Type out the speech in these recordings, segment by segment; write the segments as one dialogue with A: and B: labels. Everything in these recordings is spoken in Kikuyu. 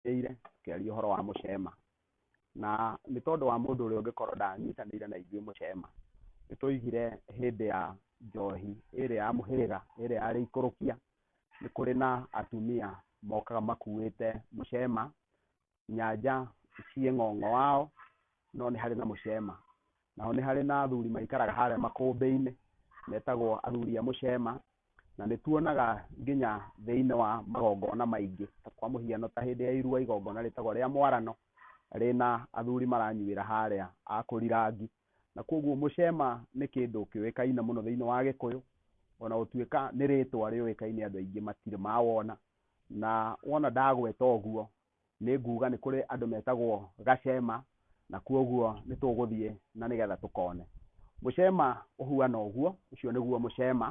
A: tũnyitanĩire tũkĩaria ũhoro wa mũcema, na nĩ tondũ wa mũndũ ũrĩa ũngĩkorwo ndanyitanĩire na ithuĩ mũcema, nĩ twaigire hĩndĩ ya njohi ĩrĩa ya mũhĩrĩga, ĩrĩa ya rĩikũrũkia, nĩ kũrĩ na atumia mokaga makuĩte mũcema, nyanja ciĩ ng'ong'o wao, no nĩ harĩ na mũcema. Nao nĩ harĩ na athuri maikaraga harĩa makũmbĩ-inĩ metagwo athuri a mũcema, na nĩ tuonaga nginya thĩinĩ wa magongona maingĩ, ta kwa mũhiano ta hĩndĩ ya irua igongona rĩtagwo rĩa mwarano, rĩna athuri maranyuĩra harĩa a kũrirangi. Na kũguo mũcema nĩ kĩndũ kĩũĩkaine mũno thĩinĩ wa Gĩkũyũ, ona gũtuĩka nĩ rĩtwa rĩũĩkaine andũ aingĩ matirĩ mawona, na wona ndagweta ũguo nĩ nguga nĩ kũrĩ andũ metagwo Gacema, na kwoguo nĩ tũgũthiĩ na nĩgetha tũkone. Mũcema ũhuana ũguo, ũcio nĩguo mũcema,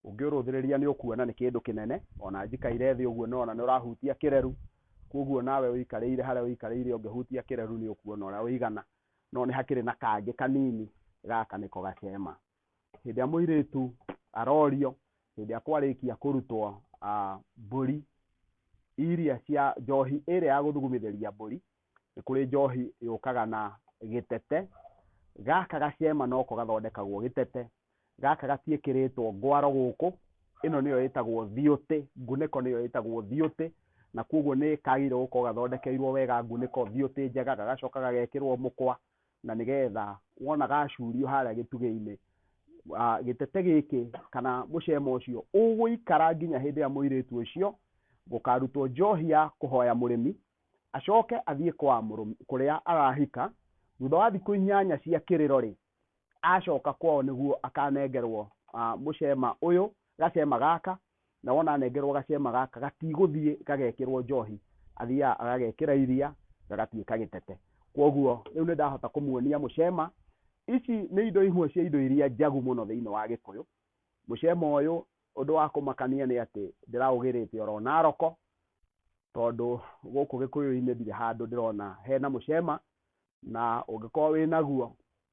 A: ũngĩũrũthĩrĩria nĩ ũkuona nĩ kĩndũ kĩnene, o na njikaire thĩ ũguo nĩwona nĩ ũrahutia kĩreru, kwoguo nawe ũikarĩire harĩa ũikarĩire ũngĩhutia kĩreru nĩ ũkuona ũrĩa ũigana, no nĩ hakĩrĩ na kangĩ kanini, gaka nĩko Gacema. hĩndĩ ĩrĩa mũirĩtu arorio hĩndĩ ĩrĩa kwarĩkia kũrutwo ah, mbũri iria cia njohi ĩrĩa ya gũthugumithĩria mbũri nĩ kũrĩ njohi yũkaga na gĩtete gaka gacema noko gathondekagwo gĩtete gaka gatiĩkĩrĩtwo ngwaro gũkũ ĩno nĩyo ĩtagwo thiũtĩ ngunĩko nĩyo ĩtagwo thiũtĩ na kwoguo nĩ kagĩrĩirwo gũkorwo gathondekeirwo wega ngunĩko thiũtĩ njega gagacoka gagekĩrwo mũkwa na nĩgetha wonaga acurio harĩa gĩtugĩ-inĩ, gĩtete gĩkĩ kana mũcema ũcio ũgũikara nginya hĩndĩ ĩrĩa mũirĩtu ũcio gũkarutwo njohi ya kũhoya mũrĩmi, acoke athiĩ kwa kũrĩa arahika, thutha wa thikũ inyanya cia kĩrĩro-rĩ, acoka kwao nĩguo akanengerwo mũcema ũyũ, gacema gaka na wona anengerwo gacema gaka gatigũthiĩ gagekĩrwo njohi athiaga agagekĩra iria gagatuĩka gĩtete kwoguo rĩu nĩ ndahota kũmuonia mũcema ici nĩ indo imwe cia indo iria njagu mũno thĩinĩ wa gĩkũyũ mũcema ũyũ ũndũ wa kũmakania nĩ atĩ ndĩraũgĩrĩte oro na roko tondũ gũkũ gĩkũyũ-inĩ ndirĩ handũ ndĩrona hena mũcema na ũngĩkorwo wĩnaguo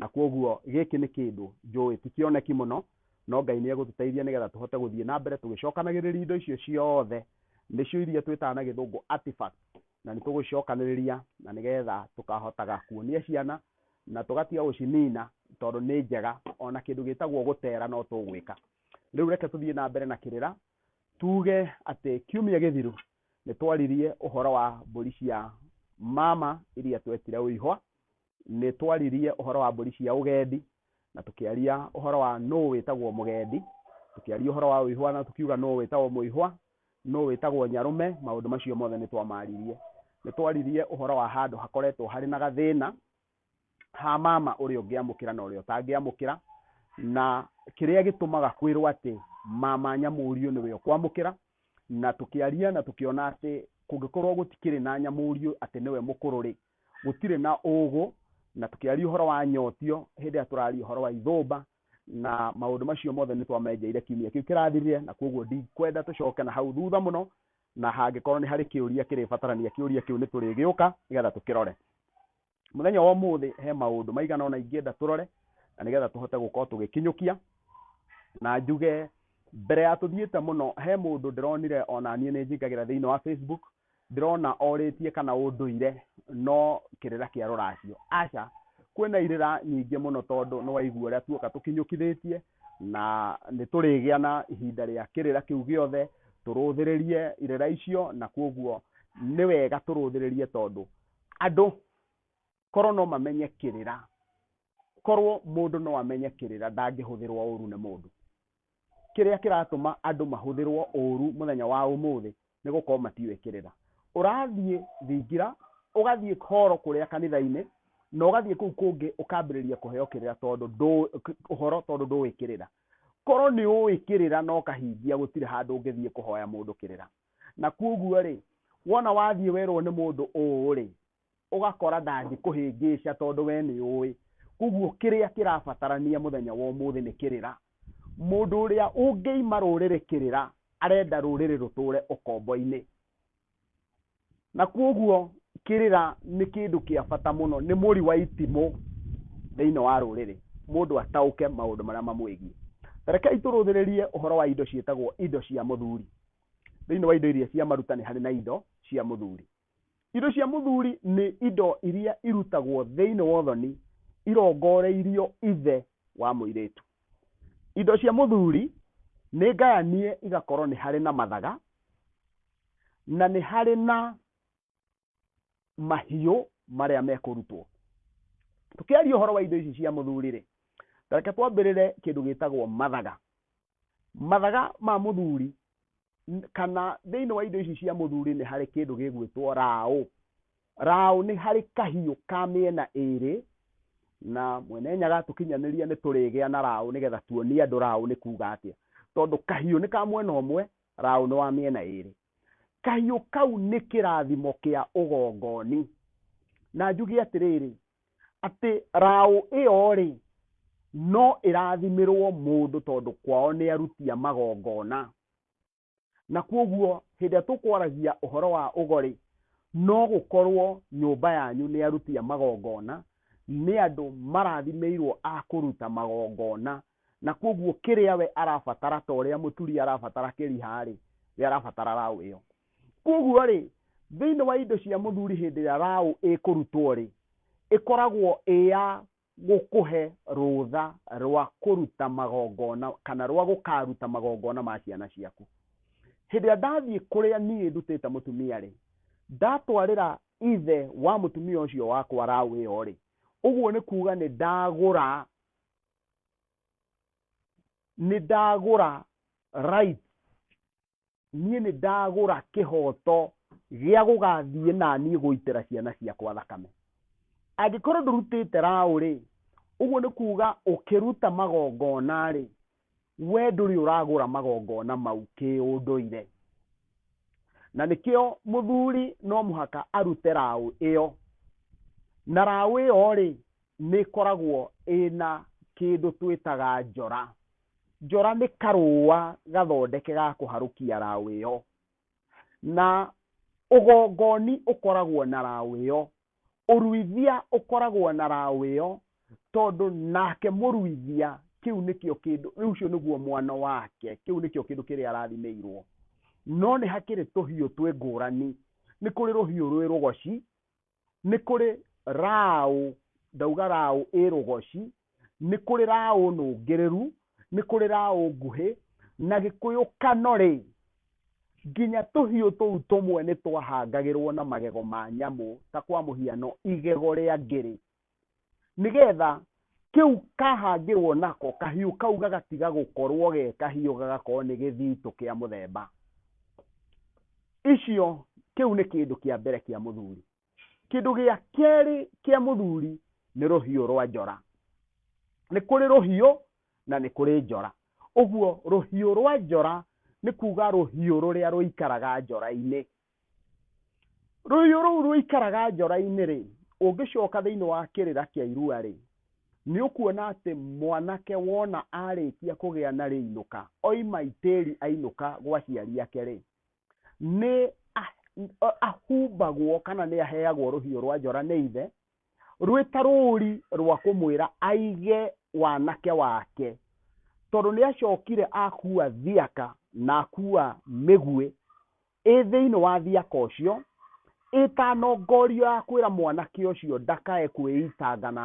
A: Na kwoguo gĩkĩ nĩ kĩndũ njũĩ ti kĩoneki mũno, no Ngai nĩ egũtũteithia nĩgetha tũhote gũthiĩ na mbere tũgĩcokanagĩrĩria indo icio ciothe, nĩcio iria twĩtaga na gĩthũngũ artifacts, na nĩ tũgũcicokanĩrĩria na nĩgetha tũkahotaga kuonia ciana na tũgatiga gũcinina tondũ nĩ njega, o na kĩndũ gĩtagwo gũtera no tũgwĩka. Rĩu reke tũthiĩ na mbere na kĩrĩra, tuge atĩ kiumia gĩthiru nĩ twaririe ũhoro wa mbũri cia mama iria twetire Ũihwa, Nĩ twaririe ũhoro wa mbũri cia ũgendi, na tũkĩaria ũhoro wa nũ wĩtagwo mũgendi, tũkĩaria ũhoro wa ũihwa na tũkiuga nũ wĩtagwo mũihwa, nũ wĩtagwo nyarũme, maũndũ macio mothe nĩ twamaririe. Nĩ twaririe ũhoro wa handũ hakoretwo harĩ na gathĩna ha mama ũrĩa ũngĩamũkĩra na ũrĩa ũtangĩamũkĩra, na kĩrĩa gĩtũmaga kwĩrwo atĩ mama nyamũriũ nĩwe ũkwamũkĩra, na tũkĩaria na tũkĩona atĩ kũngĩkorwo gũtikĩrĩ na nyamũriũ atĩ nĩwe mũkũrũ-rĩ, gũtirĩ na ũgũ, na tũkĩaria ũhoro wa nyotio, hĩndĩ ĩrĩa tũraria ũhoro wa ithũmba, na maũndũ macio mothe nĩ twamenjeire kiumia kĩu kĩrathirire, na kwoguo ndikwenda tũcoke na hau thutha mũno, na hangĩkorwo nĩ harĩ kĩũria kĩrĩbatarania kĩũria kĩu nĩ tũrĩgĩũka nĩgetha tũkĩrore. Mũthenya wa ũmũthĩ he maũndũ maigana ũna ingĩenda tũrore, na nĩgetha tũhote gũkorwo tũgĩkinyũkia, na njuge mbere ya tũthiĩte mũno, he mũndũ ndĩronire ona niĩ nĩ njingagĩra thĩinĩ wa Facebook, Ndĩrona orĩtie kana ũndũire no kĩrĩra kĩa rũracio. Aca, kwĩna irĩra nyingĩ mũno tondũ nĩwaigua ũrĩa tuoka tũkinyũkithĩtie na nĩtũrĩgĩa na ihinda rĩa kĩrĩra kĩu gĩothe, tũrũthĩrĩrie irĩra icio na kwoguo nĩwega tũrũthĩrĩrie tondũ andũ korwo no mamenye kĩrĩra korwo mũndũ no amenye kĩrĩra ndangĩhũthĩrwo ũru nĩ mũndũ kĩrĩa kĩratũma andũ mahũthĩrwo ũru mũthenya wa ũmũthĩ nĩ gũkorwo matiũĩ kĩrĩra ũrathiĩ thingira ũgathiĩ horo kũrĩa kanitha-inĩ na ũgathiĩ kũu kũngĩ ũkambĩrĩria kũheo kĩrĩra tondũ ndũ- k- ũhoro tondũ ndũĩ kĩrĩra korwo nĩ ũĩ kĩrĩra no kahingia gũtirĩ handũ ũngĩthiĩ kũhoya mũndũ kĩrĩra na kuoguo rĩ wona wathiĩ werwo nĩ mũndũ ũũ rĩ ũgakora ndangĩkũhĩngĩca tondũ we nĩ ũĩ. Kwoguo kĩrĩa kĩrabatarania mũthenya wa ũmũthĩ nĩ kĩrĩra. Mũndũ ũrĩa ũngĩima rũrĩrĩ kĩrĩra arenda rũrĩrĩ rũtũre ũkombo-inĩ. Na kwoguo kĩrĩra nĩ kĩndũ kĩa bata mũno, nĩ mũri wa itimũ thĩinĩ wa rũrĩrĩ, mũndũ ataũke maũndũ marĩa mamwĩgiĩ. Ta rekei tũrũthĩrĩrie ũhoro wa indo ciĩtagwo indo cia mũthuri. Thĩinĩ wa indo iria cia maruta nĩ harĩ na indo cia mũthuri. Indo cia mũthuri nĩ indo iria irutagwo thĩinĩ wa ũthoni irongoreirio ithe wa mũirĩtu. Indo cia mũthuri nĩ ngayanie igakorwo nĩ harĩ na mathaga na nĩ harĩ na mahiũ marĩa mekũrutwo. Tũkĩaria ũhoro wa indo ici cia mũthuri-rĩ, ta reke twambĩrĩre kĩndũ gĩtagwo mathaga. mathaga ma mũthuri n- kana thĩinĩ wa indo ici cia mũthuri nĩ harĩ kĩndũ gĩgwĩtwo raũ raũ nĩ harĩ kahiũ ka mĩena ĩrĩ na mwene nyaga tũkinyanĩria nĩ tũrĩgĩa na raũ nĩgetha tuonie andũ raũ nĩ kuga atĩa tondũ kahiũ nĩ ka mwena ũmwe raũ nĩ wa mĩena ĩrĩ Kahiũ kau nĩ kĩrathimo kĩa ũgongoni. Na njuge atĩrĩrĩ, atĩ raũ ĩyo-rĩ, no ĩrathimĩrwo mũndũ tondũ kwao nĩ aruti a magongona. Na kwoguo hĩndĩ ĩrĩa tũkwaragia ũhoro wa ũgo-rĩ, no gũkorwo nyũmba yanyu nĩ aruti a magongona, nĩ andũ marathimĩirwo a kũruta magongona Na kwoguo kĩrĩa we arabatara ta ũrĩa mũturi arabatara kĩriha-rĩ, we arabatara raũ ĩyo. Kwoguo-rĩ, thĩinĩ wa indo cia mũthuri hĩndĩ ĩrĩa raũ ĩkũrutwo-rĩ, ĩkoragwo ĩ ya gũkũhe rũtha rwa kũruta magongona kana rwa gũkaruta magongona ma ciana ciaku. Hĩndĩ ĩrĩa ndathiĩ kũrĩa niĩ ndutĩte mũtumia-rĩ, ndatwarĩra ithe wa mũtumia ũcio wakwa raũ ĩyo-rĩ, ũguo nĩ kuga nĩ ndagũra nĩ ndagũra rights niĩ nĩ ndagũra kĩhoto gĩa gũgathiĩ na niĩ gũitĩra ciana ciakwa thakame angĩkorwo ndũrutĩte raũ rĩ ũguo nĩ kuga ũkĩruta magongona rĩ we ndũrĩ ũragũra magongona mau kĩũndũire na nĩkĩo mũthuri no mũhaka arute raũ ĩyo na raũ ĩyo rĩ nĩ ĩkoragwo ĩna kĩndũ twĩtaga njora. Njora nĩ karũa gathondeke ga kũharũkia raũ ĩyo. Na ũgongoni ũkoragwo na raũ ĩyo. Ũruithia ũkoragwo na raũ ĩyo tondũ nake mũruithia kĩu nĩkĩo kĩndũ, ũcio nĩguo mwana wake, kĩu nĩkĩo kĩndũ kĩrĩa arathimĩirwo. No nĩ hakĩrĩ tũhiũ twĩ ngũrani. Nĩ kũrĩ rũhiũ rwĩ rũgoci, nĩ kũrĩ raũ, ndauga raũ ĩrũgoci, nĩ kũrĩ raũ nũngĩrĩru, nĩ kũrĩ raũ nguhĩ, na gĩkũyũ kanore, nginya tũhiũ tũu tũmwe nĩ twahangagĩrwo na magego ma nyamũ, ta kwa mũhiano igego rĩa ngĩrĩ, nĩgetha kĩu kahangĩrwo nako kahiũ kau gagatiga gũkorwo ge kahiũ gagakorwo nĩ gĩthitũ kĩa mũthemba icio kĩu nĩ kĩndũ kĩa mbere kĩa mũthuri kĩndũ gĩa kerĩ kĩa mũthuri nĩ rũhiũ rwa njora nĩ kũrĩ rũhiũ na nĩ kũrĩ njora ũguo rũhiũ rwa njora nĩ kuga rũhiũ rũrĩa rũikaraga njora-inĩ Rũhiũ rũu rũikaraga njora-inĩ-rĩ, ũngĩcoka thĩinĩ wa kĩrĩra kĩa irua-rĩ, nĩũkuona atĩ mwanake wona arĩkia kũgĩa na rĩinũka, oima itĩri ainũka gwa aciari ake-rĩ, nĩ ahumbagwo kana nĩ aheagwo rũhiũ rwa njora nĩ ithe, rwĩ ta rũri rwa kũmwĩra aige wanake wake, tondũ nĩacokire akua thiaka na akua mĩguĩ, ĩ thĩinĩ wa thiaka ũcio, ĩtanongorio ya kwĩra mwanake ũcio ndakae kwĩitanga na